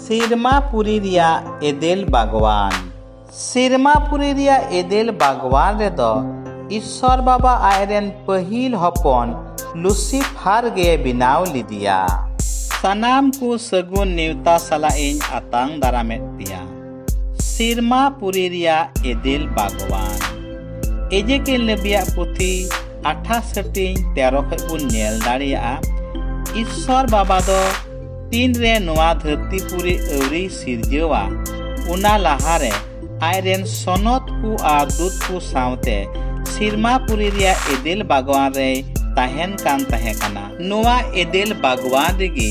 ᱥᱤᱨᱢᱟᱯᱩᱨᱤ ᱨᱮᱭᱟᱜ ᱮᱫᱮᱞ ᱵᱟᱜᱽᱣᱟᱱ ᱥᱤᱨᱢᱟᱯᱩᱨᱤ ᱨᱮᱭᱟᱜ ᱮᱫᱮᱞ ᱵᱟᱜᱽᱣᱟᱱ ᱨᱮᱫᱚ ᱤᱥᱥᱚᱨ ᱵᱟᱵᱟ ᱟᱡ ᱨᱮᱱ ᱯᱟᱹᱦᱤᱞ ᱦᱚᱯᱚᱱ ᱞᱩᱥᱤᱯᱷᱟᱨ ᱜᱮ ᱵᱮᱱᱟᱣ ᱞᱮᱫᱮᱭᱟ ᱥᱟᱱᱟᱢ ᱠᱚ ᱥᱟᱹᱜᱩᱱ ᱱᱮᱣᱛᱟ ᱥᱟᱞᱟᱜ ᱤᱧ ᱟᱛᱟᱝ ᱫᱟᱨᱟᱢᱮᱫ ᱯᱮᱭᱟ ᱥᱤᱨᱢᱟ ᱯᱩᱨᱤ ᱨᱮᱭᱟᱜ ᱮᱫᱤᱞ ᱵᱟᱜᱽᱣᱟᱱ ᱮᱡᱮᱠᱮᱞ ᱱᱮᱵᱤᱭᱟᱜ ᱯᱩᱛᱷᱤ ᱟᱴᱷᱟᱥ ᱦᱟᱹᱴᱤᱧ ᱛᱮᱨᱚ ᱠᱷᱚᱡ ᱵᱚᱱ ᱧᱮᱞ ᱫᱟᱲᱮᱭᱟᱜᱼᱟ ᱤᱥᱥᱚᱨ ᱵᱟᱵᱟ ᱫᱚ ᱛᱤᱱ ᱨᱮ ᱱᱚᱣᱟ ᱫᱷᱟᱹᱨᱛᱤ ᱯᱩᱨᱤ ᱟᱹᱣᱨᱤ ᱥᱤᱨᱡᱟᱹᱣᱟ ᱚᱱᱟ ᱞᱟᱦᱟᱨᱮ ᱟᱡᱨᱮᱱ ᱥᱚᱱᱚᱛ ᱠᱚ ᱟᱨ ᱫᱩᱛ ᱠᱚ ᱥᱟᱶᱛᱮ ᱥᱤᱨᱢᱟ ᱯᱩᱨᱤ ᱨᱮᱭᱟᱜ ᱮᱫᱮᱞ ᱵᱟᱜᱽᱣᱟᱱ ᱨᱮᱭ ᱛᱟᱦᱮᱱ ᱠᱟᱱ ᱛᱟᱦᱮᱸ ᱠᱟᱱᱟ ᱱᱚᱣᱟ ᱮᱫᱮᱞ ᱵᱟᱜᱽᱣᱟᱱ ᱨᱮᱜᱮ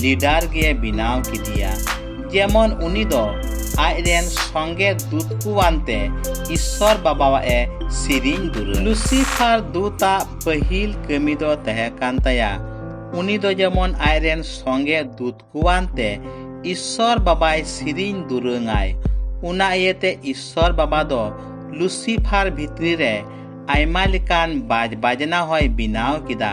ᱞᱤᱰᱟᱨ ᱜᱮ ᱵᱮᱱᱟᱣ ᱠᱮᱫᱮᱭᱟ ᱡᱮᱢᱚᱱ ᱩᱱᱤ ᱫᱚ ᱟᱡ ᱨᱮᱱ ᱥᱚᱸᱜᱮ ᱫᱩᱛ ᱠᱚᱣᱟᱱ ᱛᱮ ᱤᱥᱥᱚᱨ ᱵᱟᱵᱟᱣᱟᱜ ᱮ ᱥᱮᱨᱮᱧ ᱫᱩᱨᱟᱹ ᱞᱩᱥᱤᱯᱷᱟᱨ ᱫᱩᱛᱟᱜ ᱯᱟᱹᱦᱤᱞ ᱠᱟᱹᱢᱤ ᱫᱚ ᱛᱟᱦᱮᱸ ᱠᱟᱱ ᱛᱟᱭᱟ ᱩᱱᱤ ᱫᱚ ᱡᱮᱢᱚᱱ ᱟᱡ ᱨᱮᱱ ᱥᱚᱸᱜᱮ ᱫᱩᱛ ᱠᱚᱣᱟᱱ ᱛᱮ ᱤᱥᱥᱚᱨ ᱵᱟᱵᱟᱭ ᱥᱮᱨᱮᱧ ᱫᱩᱨᱟᱹᱝᱟᱭ ᱚᱱᱟ ᱤᱭᱟᱹᱛᱮ ᱤᱥᱥᱚᱨ ᱵᱟᱵᱟ ᱫᱚ ᱞᱩᱥᱤᱯᱷᱟᱨ ᱵᱷᱤᱛᱨᱤ ᱨᱮ ᱟᱭᱢᱟ ᱞᱮᱠᱟᱱ ᱵᱟᱡᱽ ᱵᱟᱡᱽᱱᱟ ᱦᱚᱸᱭ ᱵᱮᱱᱟᱣ ᱠᱮᱫᱟ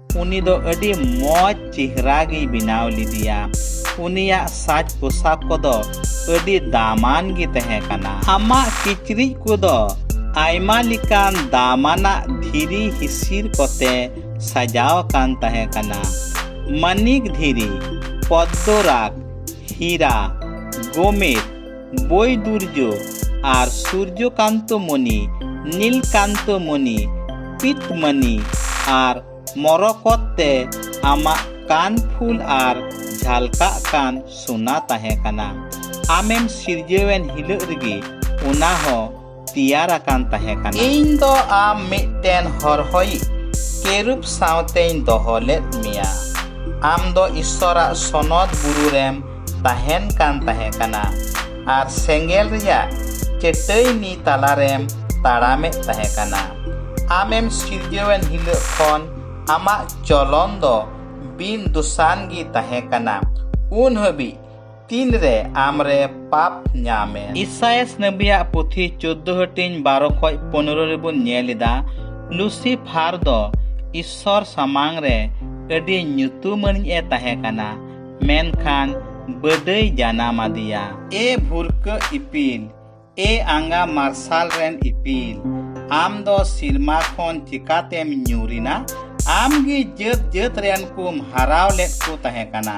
ᱩᱱᱤ ᱫᱚ ᱟᱹᱰᱤ ᱢᱚᱡᱽ ᱪᱮᱦᱨᱟ ᱜᱮᱭ ᱵᱮᱱᱟᱣ ᱞᱮᱫᱮᱭᱟ ᱩᱱᱤᱭᱟᱜ ᱥᱟᱡᱽ ᱯᱳᱥᱟᱠ ᱠᱚᱫᱚ ᱟᱹᱰᱤ ᱫᱟᱢᱟᱱ ᱜᱮ ᱛᱟᱦᱮᱸ ᱠᱟᱱᱟ ᱟᱢᱟᱜ ᱠᱤᱪᱨᱤᱡ ᱠᱚᱫᱚ ᱟᱭᱢᱟ ᱞᱮᱠᱟᱱ ᱫᱟᱢᱟᱱᱟᱜ ᱫᱷᱤᱨᱤ ᱦᱤᱥᱤᱨ ᱠᱚᱛᱮ ᱥᱟᱡᱟᱣ ᱟᱠᱟᱱ ᱛᱟᱦᱮᱸ ᱠᱟᱱᱟ ᱢᱟᱱᱤᱠ ᱫᱷᱤᱨᱤ ᱯᱚᱫᱽᱫᱚᱨᱟᱜᱽ ᱦᱤᱨᱟ ᱜᱳᱢᱮᱫ ᱵᱳᱭ ᱫᱩᱨᱡᱚ ᱟᱨ ᱥᱩᱨᱡᱚᱠᱟᱱᱛᱚ ᱢᱚᱱᱤ ᱱᱤᱞᱠᱟᱱᱛᱚ ᱢᱚᱱᱤ ᱯᱤᱛᱢᱟᱱᱤ ᱟᱨ ᱢᱚᱨᱚᱠᱚᱛ ᱛᱮ ᱟᱢᱟᱜ ᱠᱟᱱ ᱯᱷᱩᱞ ᱟᱨ ᱡᱷᱟᱞᱠᱟᱜ ᱠᱟᱱ ᱥᱳᱱᱟ ᱛᱟᱦᱮᱸ ᱠᱟᱱᱟ ᱟᱢᱮᱢ ᱥᱤᱨᱡᱟᱹᱣᱮᱱ ᱦᱤᱞᱟᱹᱜ ᱨᱮᱜᱮ ᱚᱱᱟ ᱦᱚᱸ ᱛᱮᱭᱟᱨ ᱟᱠᱟᱱ ᱛᱟᱦᱮᱸ ᱠᱟᱱᱟ ᱤᱧ ᱫᱚ ᱟᱢ ᱢᱤᱫᱴᱮᱱ ᱦᱚᱨᱦᱚᱭᱤᱡ ᱠᱮᱨᱩᱵ ᱥᱟᱶᱛᱮᱧ ᱫᱚᱦᱚ ᱞᱮᱫ ᱢᱮᱭᱟ ᱟᱢ ᱫᱚ ᱤᱥᱥᱚᱨᱟᱜ ᱥᱚᱱᱚᱛ ᱵᱩᱨᱩ ᱨᱮᱢ ᱛᱟᱦᱮᱱ ᱠᱟᱱ ᱛᱟᱦᱮᱸ ᱠᱟᱱᱟ ᱟᱨ ᱥᱮᱸᱜᱮᱞ ᱨᱮᱭᱟᱜ ᱪᱟᱹᱴᱟᱹᱭᱱᱤ ᱛᱟᱞᱟᱨᱮᱢ ᱛᱟᱲᱟᱢᱮᱫ ᱛᱟᱦᱮᱸ ᱠᱟᱱᱟ ᱟᱢᱮᱢ ᱥᱤᱨᱡᱟᱹᱣᱮᱱ ᱦᱤᱞᱳᱜ ᱠᱷᱚᱱ ᱟᱢᱟᱜ ᱪᱚᱞᱚᱱ ᱫᱚ ᱵᱤᱱ ᱫᱩᱥᱟᱱ ᱜᱮ ᱛᱟᱦᱮᱸ ᱠᱟᱱᱟ ᱩᱱ ᱦᱟᱹᱵᱤᱡ ᱛᱤᱱᱨᱮ ᱟᱢᱨᱮ ᱯᱟᱯ ᱧᱟᱢᱮ ᱤᱥᱟᱭᱮᱥ ᱱᱟᱹᱵᱤᱭᱟᱜ ᱯᱩᱛᱷᱤ ᱪᱳᱫᱽᱫᱳ ᱦᱟᱹᱴᱤᱧ ᱵᱟᱨᱚ ᱠᱷᱚᱡ ᱯᱚᱱᱨᱚ ᱨᱮᱵᱚᱱ ᱧᱮᱞ ᱮᱫᱟ ᱞᱩᱥᱤᱯᱷᱟᱨ ᱫᱚ ᱤᱥᱥᱚᱨ ᱥᱟᱢᱟᱝ ᱨᱮ ᱟᱹᱰᱤ ᱧᱩᱛᱩᱢᱟᱹᱱᱤᱡ ᱮ ᱛᱟᱦᱮᱸ ᱠᱟᱱᱟ ᱢᱮᱱᱠᱷᱟᱱ ᱵᱟᱹᱫᱟᱹᱭ ᱡᱟᱱᱟᱢ ᱟᱫᱮᱭᱟ ᱮ ᱵᱷᱩᱨᱠᱟᱹ ᱤᱯᱤᱞ ᱮ ᱟᱸᱜᱟ ᱢᱟᱨᱥᱟᱞ ᱨᱮᱱ ᱤᱯᱤᱞ ᱟᱢ ᱫᱚ ᱥᱤᱨᱢᱟ ᱠᱷᱚᱱ ᱪᱤᱠᱟᱛᱮᱢ ᱧᱩᱨᱤᱱᱟ ᱟᱢ ᱜᱮ ᱡᱟᱹᱛ ᱡᱟᱹᱛ ᱨᱮᱱ ᱠᱚᱢ ᱦᱟᱨᱟᱣ ᱞᱮᱫ ᱠᱚ ᱛᱟᱦᱮᱸ ᱠᱟᱱᱟ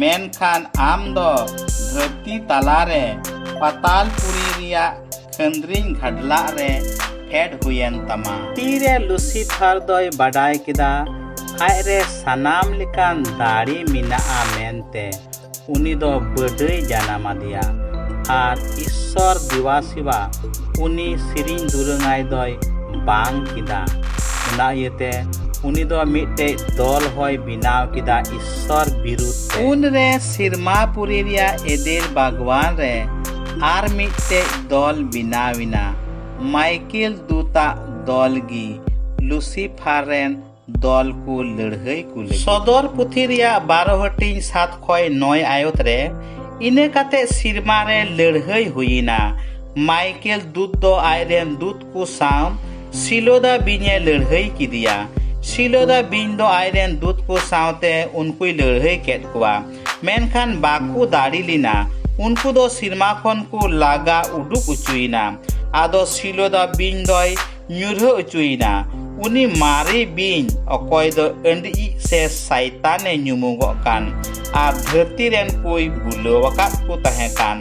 ᱢᱮᱱᱠᱷᱟᱱ ᱟᱢ ᱫᱚ ᱫᱷᱟᱹᱨᱛᱤ ᱛᱟᱞᱟᱨᱮ ᱯᱟᱛᱟᱞᱯᱩᱨᱤ ᱨᱮᱭᱟᱜ ᱠᱷᱟᱹᱱᱫᱽᱨᱤᱧ ᱜᱷᱟᱰᱞᱟᱜ ᱨᱮ ᱯᱷᱮᱰ ᱦᱩᱭᱮᱱ ᱛᱟᱢᱟ ᱛᱤᱨᱮ ᱞᱩᱥᱤᱯᱷᱟᱨ ᱫᱚᱭ ᱵᱟᱰᱟᱭ ᱠᱮᱫᱟ ᱟᱡ ᱨᱮ ᱥᱟᱱᱟᱢ ᱞᱮᱠᱟᱱ ᱫᱟᱲᱮ ᱢᱮᱱᱟᱜᱼᱟ ᱢᱮᱱᱛᱮ ᱩᱱᱤ ᱫᱚ ᱵᱟᱹᱰᱟᱹᱭ ᱡᱟᱱᱟᱢ ᱟᱫᱮᱭᱟ ᱟᱨ ᱤᱥᱥᱚᱨ ᱫᱮᱣᱟ ᱥᱮᱵᱟ ᱩᱱᱤ ᱥᱮᱨᱮᱧ ᱫᱩᱨᱟᱹᱝᱟᱭ ᱫᱚᱭ ᱵᱟᱝ ᱠᱮᱫᱟ ᱚᱱᱟ ᱤᱭᱟᱹᱛᱮ ᱩᱱᱤ ᱫᱚ ᱢᱤᱫᱴᱮᱡ ᱫᱚᱞ ᱦᱚᱭ ᱵᱮᱱᱟᱣ ᱠᱮᱫᱟ ᱥᱚᱨ ᱵᱤᱨᱩᱫᱷ ᱛᱮ ᱩᱱᱨᱮ ᱥᱤᱨᱢᱟᱯᱩᱨᱤ ᱨᱮᱭᱟᱜ ᱮᱫᱮᱞ ᱵᱟᱜᱽᱣᱟᱱ ᱨᱮ ᱟᱨ ᱢᱤᱫᱴᱮᱡ ᱫᱚᱞ ᱵᱮᱱᱟᱣᱮᱱᱟ ᱢᱟᱭᱠᱮᱞ ᱫᱩᱛᱟᱜ ᱫᱚᱞ ᱜᱮ ᱞᱩᱥᱤᱯᱷᱟᱨ ᱨᱮᱱ ᱫᱚᱞ ᱠᱚ ᱞᱟᱹᱲᱦᱟᱹᱭ ᱠᱚ ᱞᱟᱹᱜᱤᱫ ᱥᱚᱫᱚᱨ ᱯᱩᱛᱷᱤ ᱨᱮᱭᱟᱜ ᱵᱟᱨᱚ ᱦᱟᱹᱴᱤᱧ ᱥᱟᱛ ᱠᱷᱚᱭ ᱱᱚᱭ ᱟᱭᱚᱛ ᱨᱮ ᱤᱱᱟᱹ ᱠᱟᱛᱮ ᱥᱤᱨᱢᱟ ᱨᱮ ᱞᱟᱹᱲᱦᱟᱹᱭ ᱦᱩᱭᱮᱱᱟ ᱢᱟᱭᱠᱮᱞ ᱫᱩᱛ ᱫᱚ ᱟᱡ ᱨᱮᱱ ᱫᱩᱛ ᱠᱚ ᱥᱟᱶ ᱥᱤᱞᱳᱫᱟ ᱵᱤᱧᱮ ᱞᱟᱹᱲᱦᱟᱹᱭ ᱠᱮᱫᱮᱭᱟ ᱥᱤᱞᱳᱫᱟ ᱵᱤᱧ ᱫᱚ ᱟᱡᱨᱮᱱ ᱫᱩᱛ ᱠᱚ ᱥᱟᱶᱛᱮ ᱩᱱᱠᱩᱭ ᱞᱟᱹᱲᱦᱟᱹᱭ ᱠᱮᱫ ᱠᱚᱣᱟ ᱢᱮᱱᱠᱷᱟᱱ ᱵᱟᱠᱚ ᱫᱟᱲᱮ ᱞᱮᱱᱟ ᱩᱱᱠᱩ ᱫᱚ ᱥᱤᱨᱢᱟ ᱠᱷᱚᱱ ᱠᱚ ᱞᱟᱜᱟ ᱩᱰᱩᱠ ᱚᱪᱚᱭᱮᱱᱟ ᱟᱫᱚ ᱥᱤᱞᱳᱫᱟ ᱵᱤᱧ ᱫᱚᱭ ᱧᱩᱨᱦᱟᱹ ᱚᱪᱚᱭᱮᱱᱟ ᱩᱱᱤ ᱢᱟᱨᱮ ᱵᱤᱧ ᱚᱠᱚᱭ ᱫᱚ ᱟᱹᱰᱤᱡ ᱥᱮ ᱥᱟᱭᱛᱟᱱᱮ ᱧᱩᱢᱩᱜᱚᱜ ᱠᱟᱱ ᱟᱨ ᱫᱷᱟᱹᱨᱛᱤ ᱨᱮᱱ ᱠᱚᱭ ᱵᱩᱞᱟᱹᱣ ᱟᱠᱟᱫ ᱠᱚ ᱛᱟᱦᱮᱸ ᱠᱟᱱ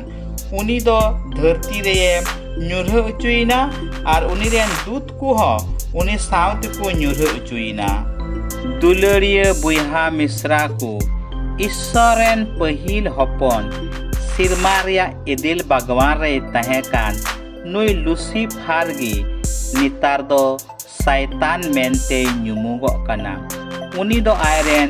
ᱩᱱᱤ ᱫᱚ ᱫᱷᱟᱹᱨᱛᱤ ᱨᱮᱭᱮ ᱧᱩᱨᱦᱟᱹ ᱚᱪᱚᱭᱮᱱᱟ ᱟᱨ ᱩᱱᱤ ᱨᱮᱱ ᱫᱩᱛ ᱠᱚᱦᱚᱸ ᱩᱱᱤ ᱥᱟᱶ ᱛᱮᱠᱚ ᱧᱩᱨᱦᱟᱹ ᱚᱪᱚᱭᱮᱱᱟ ᱫᱩᱞᱟᱹᱲᱤᱭᱟᱹ ᱵᱚᱭᱦᱟ ᱢᱤᱥᱨᱟ ᱠᱚ ᱤᱥᱥᱚᱨ ᱨᱮᱱ ᱯᱟᱹᱦᱤᱞ ᱦᱚᱯᱚᱱ ᱥᱤᱨᱢᱟ ᱨᱮᱭᱟᱜ ᱮᱫᱮᱞ ᱵᱟᱜᱽᱣᱟᱱ ᱨᱮᱭ ᱛᱟᱦᱮᱸ ᱠᱟᱱ ᱱᱩᱭ ᱞᱩᱥᱤᱯᱷᱟᱨ ᱜᱮ ᱱᱮᱛᱟᱨ ᱫᱚ ᱥᱟᱭᱛᱟᱱ ᱢᱮᱱᱛᱮᱭ ᱧᱩᱢᱩᱜᱚᱜ ᱠᱟᱱᱟ ᱩᱱᱤ ᱫᱚ ᱟᱡ ᱨᱮᱱ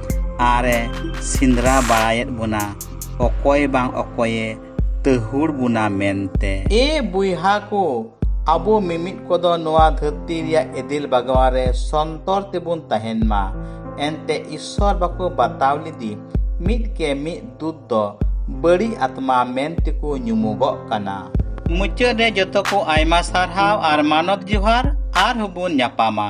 ᱟᱨᱮ ᱥᱤᱸᱫᱽᱨᱟ ᱵᱟᱲᱟᱭᱮᱫ ᱵᱚᱱᱟ ᱚᱠᱚᱭ ᱵᱟᱝ ᱚᱠᱚᱭᱮ ᱛᱟᱹᱦᱩᱲ ᱵᱚᱱᱟ ᱢᱮᱱᱛᱮ ᱮ ᱵᱩᱭᱦᱟ ᱠᱚ ᱟᱵᱚ ᱢᱤᱢᱤᱫ ᱠᱚᱫᱚ ᱱᱚᱣᱟ ᱫᱷᱟᱹᱨᱛᱤ ᱨᱮᱭᱟᱜ ᱮᱫᱤᱞ ᱵᱟᱜᱟᱣᱟ ᱨᱮ ᱥᱚᱱᱛᱚᱨ ᱛᱮᱵᱚᱱ ᱛᱟᱦᱮᱱ ᱢᱟ ᱮᱱᱛᱮ ᱤᱥᱥᱚᱨ ᱵᱟᱠᱚ ᱵᱟᱛᱟᱣ ᱞᱮᱫᱮ ᱢᱤᱫ ᱠᱮ ᱢᱤᱫ ᱫᱩᱛ ᱫᱚ ᱵᱟᱹᱲᱤᱡ ᱟᱛᱢᱟ ᱢᱮᱱ ᱛᱮᱠᱚ ᱧᱩᱢᱚᱜᱚᱜ ᱠᱟᱱᱟ ᱢᱩᱪᱟᱹᱫ ᱨᱮ ᱡᱚᱛᱚ ᱠᱚ ᱟᱭᱢᱟ ᱥᱟᱨᱦᱟᱣ ᱟᱨ ᱢᱟᱱᱚᱛ ᱡᱚᱦᱟᱨ ᱟᱨᱦᱚᱸ ᱵᱚᱱ ᱧᱟᱯᱟᱢᱟ